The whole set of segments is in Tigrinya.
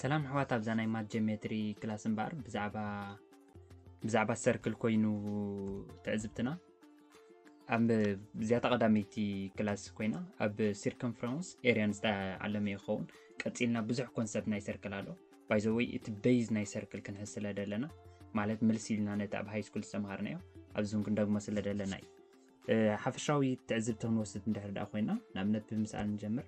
ሰላም ኣሕዋት ኣብዛ ናይ ማት ጀሜትሪ ክላስ እምበኣር ብዛዕባ ብዛዕባ ሰርክል ኮይኑ ትዕዝብትና ኣብ እዚኣታ ቀዳመይቲ ክላስ ኮይና ኣብ ሲርከምፍራንስ ኤርያን ዝተዓለመ ይኸውን ቀፂልና ብዙሕ ኮንሰፕት ናይ ሰርክል ኣሎ ባይዘወይ እቲ በይዝ ናይ ሰርክል ክንሕዝ ስለ ደለና ማለት ምልስ ኢልና ነቲ ኣብ ሃይ ስኩል ዝተምሃርናዮ ኣብዚም ክንደግሞ ስለ ደለና እዩ ሓፈሻዊ ትዕዝብቲ ክንወስድ እንድሕር ድኣ ኮይና ንኣብነት ብምስኣል ንጀምር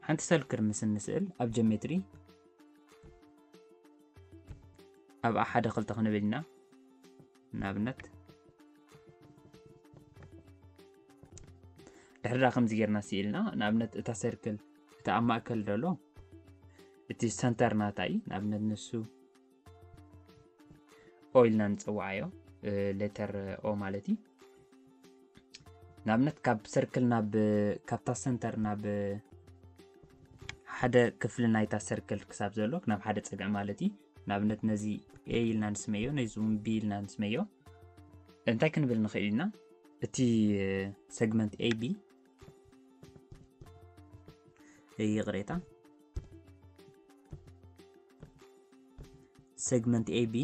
ሓንቲ ሰልክር ምስ እንስእል ኣብ ጀሜትሪ ኣብኣ ሓደ ክልተ ክንብል ኢና ንኣብነት ድሕሪ ከምዚ ጌርና ስኢልና ንኣብነት እታ ሰርክል እቲ ኣብ ማእከል ደሎ እቲ ሰንተር ናታ እዩ ንኣብነት ንሱ ኦይልና ንፅዋዓዮ ሌተር ኦ ማለት እዩ ንኣብነት ካብ ሰርክል ናብ ካብታ ሰንተር ናብ ሓደ ክፍሊ ናይታ ሰርክል ክሳብ ዘሎ ናብ ሓደ ፀግዒ ማለት እዩ ንኣብነት ነዚ ኤ ኢልና ንስመዮ ነዚ እውን ቢ ኢልና ንስመዮ እንታይ ክንብል ንኽእል ኢና እቲ ሰግመንት ኤቢ ይቅሬታ ሴግመንት ኤቢ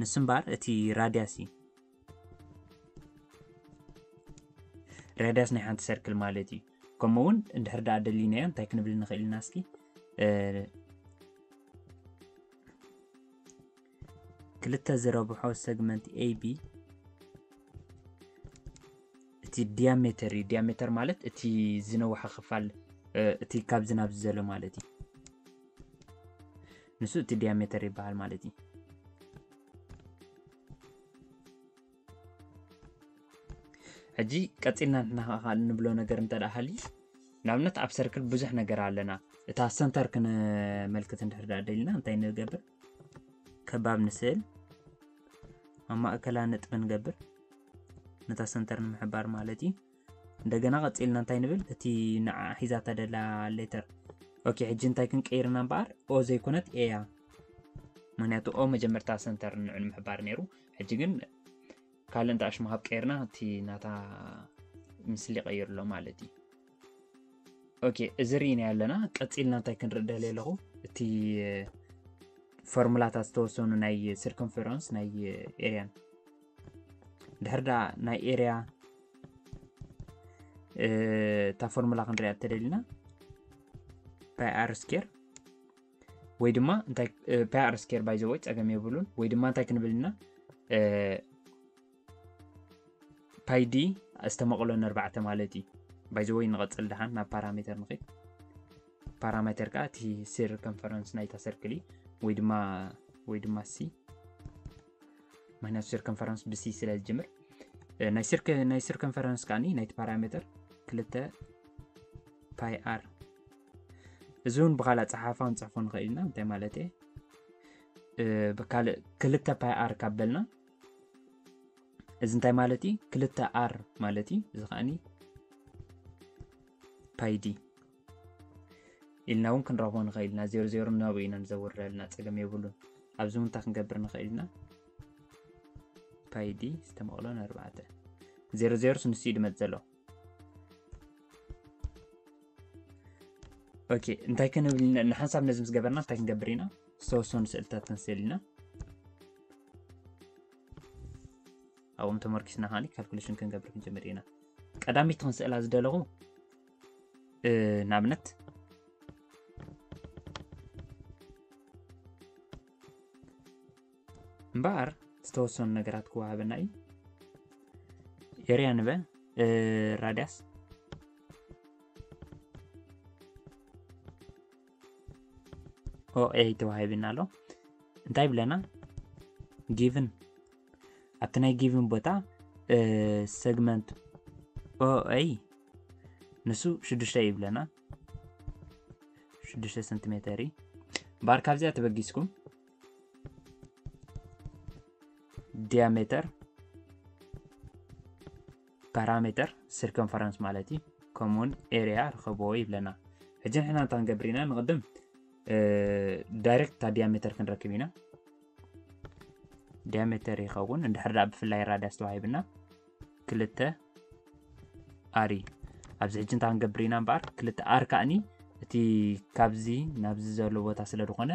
ንሱ እምበር እቲ ራድያስ እዩ ራድያስ ናይ ሓንቲ ሰርክል ማለት እዩ ከምኡ እውን እንድሕር ዳኣ ደሊናዮ እንታይ ክንብል ንኽእል ኢና እስኪ ክልተ ዝረብሖ ሰግመንት ኤቢ እቲ ዲያሜተር እዩ ዲያሜተር ማለት እቲ ዝነውሐ ክፋል እቲ ካብ ዝናብ ዝዘሎ ማለት እዩ ንሱ እቲ ዲያሜተር ይበሃል ማለት እዩ ሕጂ ቀፂልና ንናኸ ንብሎ ነገር እንተ ሃልዩ ንኣብነት ኣብ ሰርክል ብዙሕ ነገር ኣለና እታ ሰንተር ክንመልክት እንድሕር ደልና እንታይ ንገብር ከባብ ንስእል ኣብ ማእከላ ነጥቢ ንገብር ነታ ሰንተር ንምሕባር ማለት እዩ እንደገና ቀፂልና እንታይ ንብል እቲ ንዓ ሒዛታ ደላ ሌተር ኦኬ ሕጂ እንታይ ክንቀይርና እምበኣር ኦ ዘይኮነት ኤያ ምክንያቱ ኦ መጀመርታ ሰንተር ንዑ ንምሕባር ነይሩ ሕጂ ግን ካልእ እንተ ኣሽማሃብ ቀይርና እቲ ናታ ምስሊ ቀይርሎ ማለት እዩ ኦኬ እዚ ርኢና ኣለና ቀፂልና እንታይ ክንርኢ ደልየ ኣለኹ እቲ ፎርሙላታት ዝተወሰኑ ናይ ሲርኮንፈረንስ ናይ ኤርያን ድሕር ዳ ናይ ኤርያ እታ ፎርሙላ ክንሪያ እተደሊና ፓይ ኣር ስኬር ወይ ድማ ፓይ ኣር ስኬር ባይዘወይ ፀገም የብሉን ወይ ድማ እንታይ ክንብል ኢና ፓይዲ ዝተመቕሎ ነርባዕተ ማለት እዩ ባይዘወይ ንቐፅል ድሓን ናብ ፓራሜተር ንኽድ ፓራሜተር ከዓ እቲ ስር ኮንፈረንስ ናይታ ሰርክሊ ወይ ድማ ወይ ድማ ሲ ምክንያቱ ስር ኮንፈረንስ ብሲ ስለ ዝጅምር ናይ ስር ኮንፈረንስ ከዓኒ ናይቲ ፓራሜተር ክልተ ፓይ ኣር እዚ እውን ብካልእ ፀሓፋ ንፅሕፎ ንኽእል ኢና እንታይ ማለት እየ ብካልእ ክልተ ፓይ ኣር ካብ በልና እዚ እንታይ ማለት እዩ ክልተ ኣር ማለት እዩ እዚ ከዓኒ ፓይዲ ኢልና እውን ክንረኽቦ ንኽእል ኢና ዜሮ ዜሮ ናብኡ ኢና ንዘውርደልና ፀገም የብሉን ኣብዚ እንታይ ክንገብር ንኽእል ኢና ፓይዲ ዝተመቕሎን ኣርባዕተ ዜሮ ዜሮስ ንሱ እዩ ድመፅ ዘሎ ኦኬ እንታይ ክንብል ኢና? ንሓንሳብ ነዚ ምስ ገበርና እንታይ ክንገብር ኢና? ዝተወሰኑ ስእልታት ክንስእል ኢና። ኣብኦም ተመርኪስና ከዓኒ ካልኩሌሽን ክንገብር ክንጀምር ኢና። ቀዳሚት ክንስእላ ዝደለኹ እ፣ ንኣብነት እምበኣር ዝተወሰኑ ነገራት ክወሃበና እዩ ኤርያ ንበ ራድያስ ኦኤ ተዋሂብና ኣሎ እንታይ ብለና ጊቭን ኣብቲ ናይ ጊቭን ቦታ ሰግመንት ኦኤ ንሱ ሽዱሽተ እዩ ብለና ሽዱሽተ ሰንቲሜተር እዩ ባር ካብዚኣ ተበጊስኩም ዲያሜተር ፓራሜተር ሲርከንፈረንስ ማለት እዩ ከምኡውን ኤርያ ርኸብዎ ይብለና ሕጂ ንሕና እንታ ክንገብር ኢና ንቕድም ዳይሬክት እታ ዲያሜተር ክንረክብ ኢና ዲያሜተር ይኸውን እንድሕር ዳኣ ብፍላይ ራዳስ ተዋሂብና ክልተ ኣሪ ኣብዚ ሕጂ እንታ ክንገብር ኢና እምበኣር ክልተ ኣር ከዓኒ እቲ ካብዚ ናብዚ ዘሎ ቦታ ስለ ዝኾነ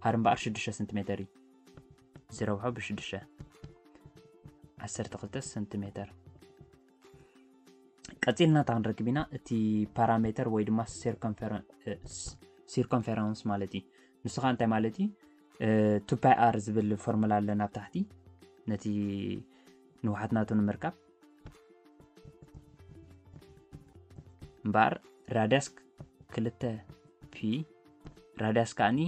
ኣር እምበኣር ሽዱሽተ ሰንቲሜተር እዩ ዝረብሖ ብሽዱሽተ ዓሰርተ ክልተ ሰንቲሜተር ቀፂልና እታ ክንረክብ ኢና እቲ ፓራሜተር ወይ ድማ ሲርኮንፌረንስ ማለት እዩ ንሱ ከዓ እንታይ ማለት እዩ ቱፓይ ኣር ዝብል ፎርሙላ ኣለና ኣብ ታሕቲ ነቲ ንውሓት ናቱ ንምርካብ እምበኣር ራድያስ ክልተ ፒ ራድያስ ከዓኒ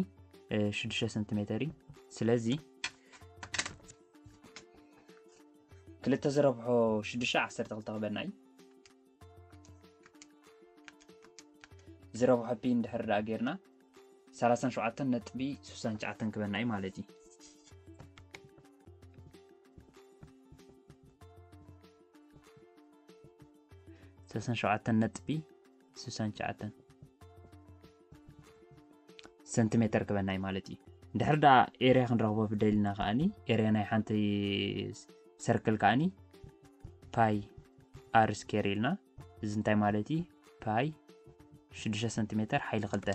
ሽዱሽተ ሰንቲሜተር እዩ ስለዚ ክልተ ዝረብሖ ሽዱሽተ ዓሰርተ ክልተ ክበና እዩ ዝረብሖ ፒ እንድሕር ደኣ ጌርና ሰላሳን ሸውዓተን ነጥቢ ስሳን ትሽዓተን ክበና እዩ ማለት እዩ ሰላሳን ሸውዓተን ነጥቢ ስሳን ትሽዓተን ሰንቲሜተር ክበና እዩ ማለት እዩ ድሕሪ ደኣ ኤርያ ክንረኽቦ ብደሊና ከዓኒ ኤርያ ናይ ሓንቲ ሰርክል ከዓኒ ፓይ ኣር ስኬር ኢልና እዚ እንታይ ማለት እዩ ፓይ 6 ሰንቲሜተር ሓይሊ ክልተ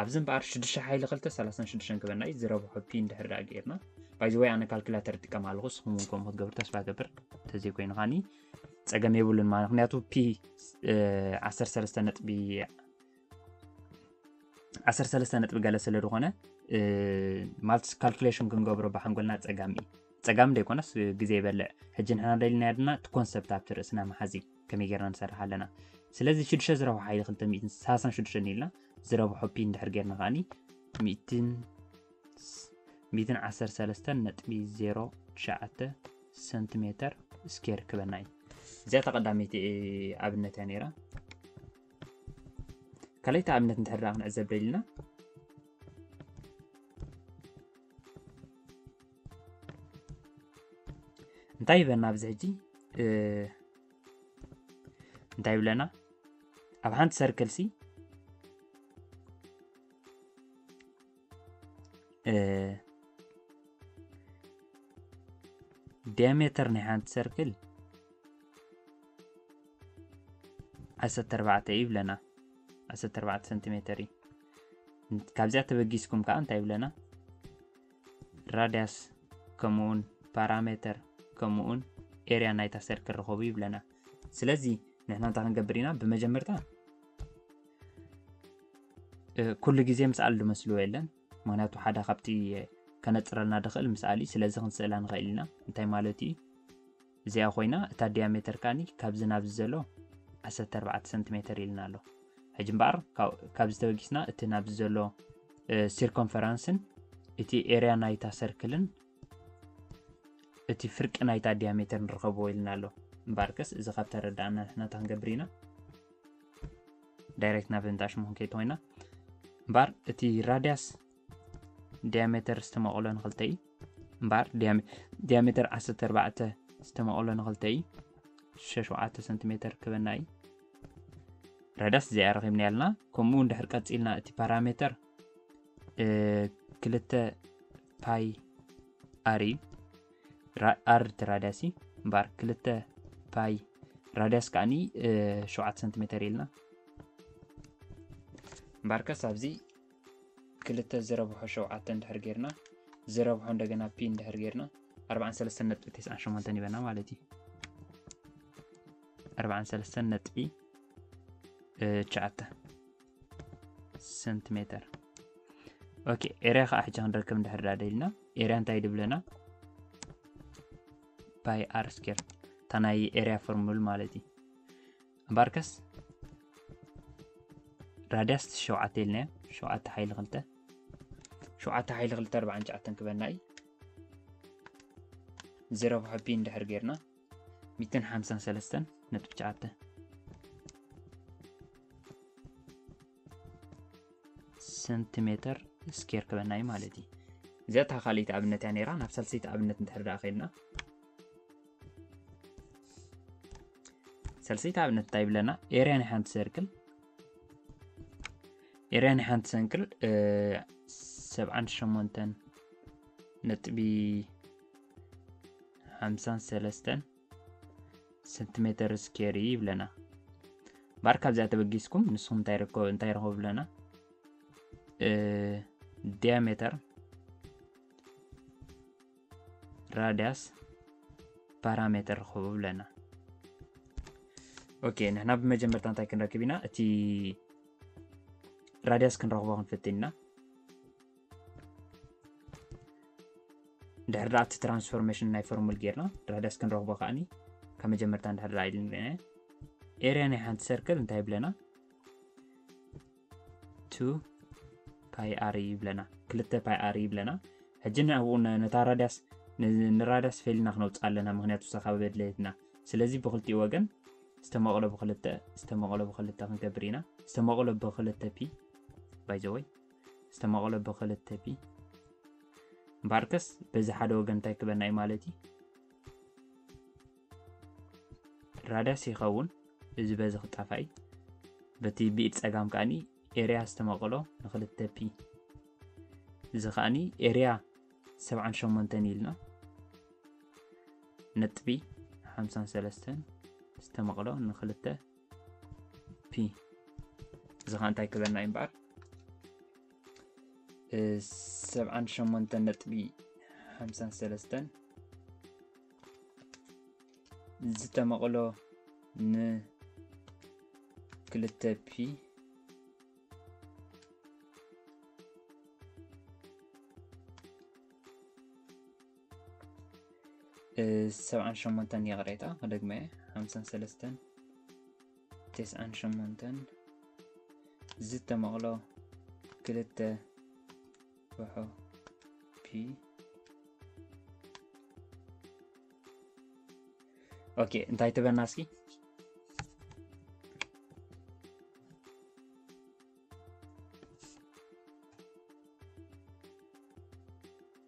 ኣብዚ እምበኣር 6 ሓይሊ ክልተ 36 ክበና እዩ ዝረብሖ ፒ እንድሕር ዳኣ ገይርና ባይዘወይ ኣነ ካልኩላተር ጥቀም ኣለኹ ንስኹም እውን ከምኡ ክትገብር ተስፋ ገብር እንተዘይኮይኑ ከኒ ፀገም የብሉን ማለት ምክንያቱ ፒ 13 ነጥቢ ዓሰርተ ሰለስተ ነጥቢ ገለ ስለ ዝኾነ ማለት ካልኩሌሽን ክንገብሮ ብሓንጎልና ፀጋሚ እዩ ፀጋሚ ደይኮነስ ግዜ ይበልዕ ሕጂ ንሕና ደልና ድማ እቲ ኮንሰፕት ኣብቲ ርእስና መሓዚ ከመይ ጌርና ንሰርሕ ኣለና ስለዚ ሽዱሸ ዝረብሖ ሓይሊ 236 ኢልና ዝረብሖ ፒን ድሕር ጌርና ከዓኒ 113.09 ሰንቲሜተር ስኬር ክበና እዩ እዚኣ ተቐዳሚቲ ኣብነት እያ ነይራ ካልኣይቲ ኣብነት እንድሕር ደኣ ክንዕዘብ ደሊና እንታይ ይበና ኣብዚ ሕጂ እንታይ ይብለና ኣብ ሓንቲ ሰርክል ሲ ዲያሜተር ናይ ሓንቲ ሰርክል ዓሰርተ ኣርባዕተ እዩ ይብለና ዓሰርተ ኣርባዕተ ሰንቲሜተር እዩ ካብዚኣ ተበጊስኩም ከዓ እንታይ ይብለና ራድያስ ከምኡውን ፓራሜተር ከምኡውን ኤርያ ናይታ ሰርክል ርኸቡ ይብለና ስለዚ ንሕና እንታይ ክንገብር ኢና ብመጀመርታ ኩሉ ግዜ ምስኣል ዝመስልዎ የለን ምክንያቱ ሓደ ካብቲ ከነፅረልና ድኽእል ምስኣል እዩ ስለዚ ክንስእላ ንኽእል ኢና እንታይ ማለት እዩ እዚኣ ኮይና እታ ዲያሜተር ካኒ ካብዚ ናብዚ ዘሎ 14 ሰንቲሜተር ኢልና ኣሎ ሕጂ እምበኣር ካብ ዝተበጊስና እቲ ናብዚ ዘሎ ሲርኮንፈራንስን እቲ ኤርያ ናይታ ሰርክልን እቲ ፍርቂ ናይታ ዲያሜተር ንረኸብዎ ኢልና ኣሎ እምበኣርከስ እዚ ካብ ተረዳእና ንሕናታ ክንገብር ኢና ዳይሬክት ናብ እንዳ ሽሙ ክንከይድ ኮይና እምበር እቲ ራድያስ ዲያሜተር ዝተመቕሎ ንክልተ እዩ እምበር ዲያሜተር 14 ዝተመቕሎ ንክልተ እዩ 67 ሰንቲሜተር ክበና እዩ ራዳስ እዚኣ ረኺብና ያልና ከምኡ እውን ድሕር ቀፂልና እቲ ፓራሜተር ክልተ ፓይ ኣር እዩ ኣርድቲ ራድያሲ እምበኣር ክልተ ፓይ ራድያስ ከዓኒ ሸውዓተ ሰንቲሜተር ኢልና እምበኣርከስ ኣብዚ ክልተ ዝረብሖ ሸውዓተ እንድሕር ጌርና ዝረብሖ እንደገና ፒ እንድሕር ጌርና 43.98 ይበና ማለት እዩ 43 ነጥቢ ሸዓተ ሰንቲሜተር ኦኬ ኤርያ ከዓ ሕጂ ክንረክብ እንድሕር ዳ ደልና ኤርያ እንታይ ድብለና ባይ ኣር ስኬር እታ ናይ ኤርያ ፎርሙል ማለት እዩ እምበኣርከስ ራድያስ ሸውዓተ ኢልናዮ ሸውዓተ ሓይሊ ክልተ ሸውዓተ ሓይሊ ክልተ ኣርባዓን ሸዓተን ክበና እዩ ዜሮ ብሓቢ እንድሕር ጌርና ሚእትን ሓምሳን ሰለስተን ነጥቢ ትሽዓተ ሰንቲሜተር ስኬር ክበና እዩ ማለት እዩ እዚኣ እታ ካልእይቲ ኣብነት እያ ነራ ናብ ሳልሰይቲ ኣብነት እንድሕር ደኣ ከይድና ሳልሰይቲ ኣብነት እንታይ ይብለና ኤርያ ናይ ሓንቲ ሰርክል ኤርያ ናይ ሓንቲ ሰንክል ሰብዓን ሸሞንተን ነጥቢ ሓምሳን ሰለስተን ሰንቲሜተር ስኬር እዩ ይብለና ባር ካብዚኣ ተበጊስኩም ንስኹም እንታይ ረኸቡ ብለና ዲያሜተር ራዲያስ ፓራሜተር ረኸቡ ብለና ኦኬ ንሕና ብመጀመርታ እንታይ ክንረክብ ኢና እቲ ራዲያስ ክንረኽቦ ክንፍትን ኢና ድሕሪ ዳኣ እቲ ትራንስፎርሜሽን ናይ ፎርሙል ጌርና ድሕዳስ ክንረኽቦ ከዓኒ ካብ መጀመርታ እንድሕር ዳኣ ኢልን ርና ኤርያ ናይ ሓንቲ ሰርክል እንታይ ይብለና ቱ ፓይ ኣር ይብለና ክልተ ፓይ ኣር ይብለና ሕጂ ንኣብኡ ነታ ራዳስ ንራዳስ ፌልና ክነውፅእ ኣለና ምክንያቱ ሰካብ በድለየትና ስለዚ ብክልቲኡ ወገን ዝተመቕሎ ብክልተ ዝተመቕሎ ብክልተ ክንገብር ኢና ዝተመቕሎ ብክልተ ፒ ባይዘወይ ዝተመቐሎ ብክልተ ፒ እምበኣርከስ በዚ ሓደ ወገን እንታይ ክበና እዩ ማለት እዩ ራዳስ ይኸውን እዚ በዚ ክጣፋኢ በቲ ብኢድ ፀጋም ከዓኒ ኤርያ ዝተመቐሎ ንክልተ ፒ እዚ ከዓኒ ኤርያ 78 ኢልና ነጥቢ 53 ዝተመቕሎ ንክልተ ፒ እዚ ከዓ እንታይ ክብለና እዩ እምበኣር ሰብዓን ሸሞንተን ነጥቢ ሓምሳን ሰለስተን ዝተመቕሎ ንክልተ ፒ ሰብዓን ሸሞንተን ይቕሬታ ክደግመ እየ ሓምሳን ሰለስተን ተስዓን ሸሞንተን ዝተመቕሎ ክልተ ውሖ ፒ ኦኬ እንታይ ትበና እስኪ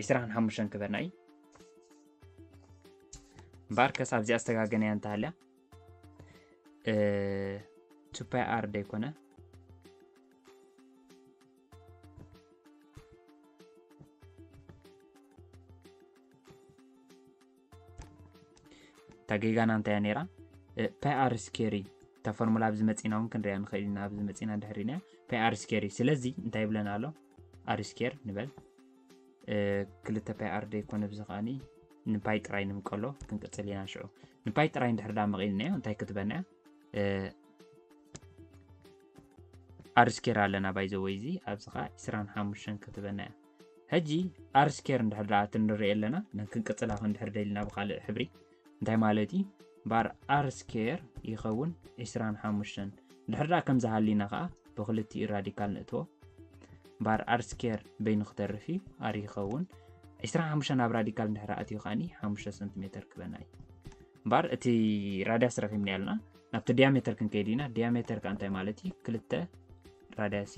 ዒስራን ሓሙሽተን ክበና እዩ እምበኣር ከሳብ እዚኣ ዝተጋገነያ እንተሃልያ ቱፓይ ኣር ደይኮነ እታ ጌጋና እንታይ እያ ነይራ ፓይ ኣር ስኬሪ እታ ፎርሙላ ኣብዚ መፂና እውን ክንሪያ ንኽእል ኢና ኣብዚ መፂና ድሕሪና ፓይ ኣር ስኬሪ ስለዚ እንታይ ይብለና ኣሎ ኣር ስኬር ንበል ክልተ ፓይ ኣር ደይኮነ ብዚ ከዓኒ ንፓይ ጥራይ ንምቀሎ ክንቅፅል ኢና ሽዑ ንፓይ ጥራይ እንድሕር ዳ መቒልናዮ እንታይ ክትበና እያ ኣር ስኬር ኣለና ባይዘወይ እዚ ኣብዚ ከዓ 25 ክትበና እያ ሕጂ ኣርስ ኬር እንድሕር ደኣ ትንርኢ ኣለና ክንቅጽላ ክንድሕር ደልና ብካልእ ሕብሪ እንታይ ማለት እዩ ባር ኣርስ ኬር ይኸውን 25 እንድሕር ደኣ ከም ዝሃሊና ከዓ ብክልቲኡ ራዲካል ንእትዎ ባር ኣርስ ኬር በይኑ ክተርፍ እዩ ኣር ይኸውን 25 ኣብ ራዲካል እንድሕር ኣትዩ ከዓኒ 5 ሰንቲሜትር ክበና እዩ ባር እቲ ራዳስ ረኪብና ያልና ናብቲ ዲያሜትር ክንከይድ ኢና ዲያሜትር ከዓ እንታይ ማለት እዩ ክልተ ራዳሲ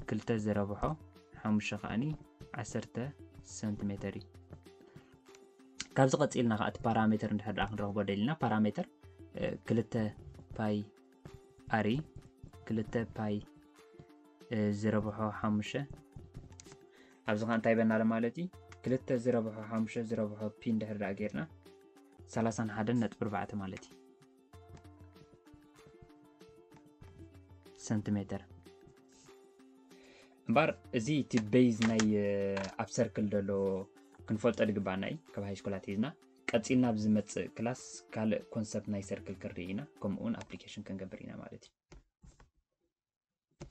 ክልተ ዝረብሖ ሓሙሽተ ከኣኒ ዓሰርተ ሰንቲሜተር እዩ ካብዚ ቀፂልና ከዓ እቲ ፓራሜተር እንድሕር ድኣ ክንረኽቦ ደሊና ፓራሜተር ክልተ ፓይ ኣሪ ክልተ ፓይ ዝረብሖ ሓሙሽተ ኣብዚ ከዓ እንታይ በናለ ማለት እዩ ክልተ ዝረብሖ ሓሙሽተ ዝረብሖ ፒ እንድሕር ድኣ ጌርና ሰላሳን ሓደን ነጥቢ ኣርባዕተ ማለት እዩ ሰንቲሜትር እምበር እዚ እቲ ቤዝ ናይ ኣብ ሰርክል ዘሎ ክንፈልጦ ድግባና እዩ ካብ ሃይስኮላት ሒዝና ቀፂልና ኣብ ዝመፅእ ክላስ ካልእ ኮንሰፕት ናይ ሰርክል ክንርኢ ኢና ከምኡውን ኣፕሊኬሽን ክንገብር ኢና ማለት እዩ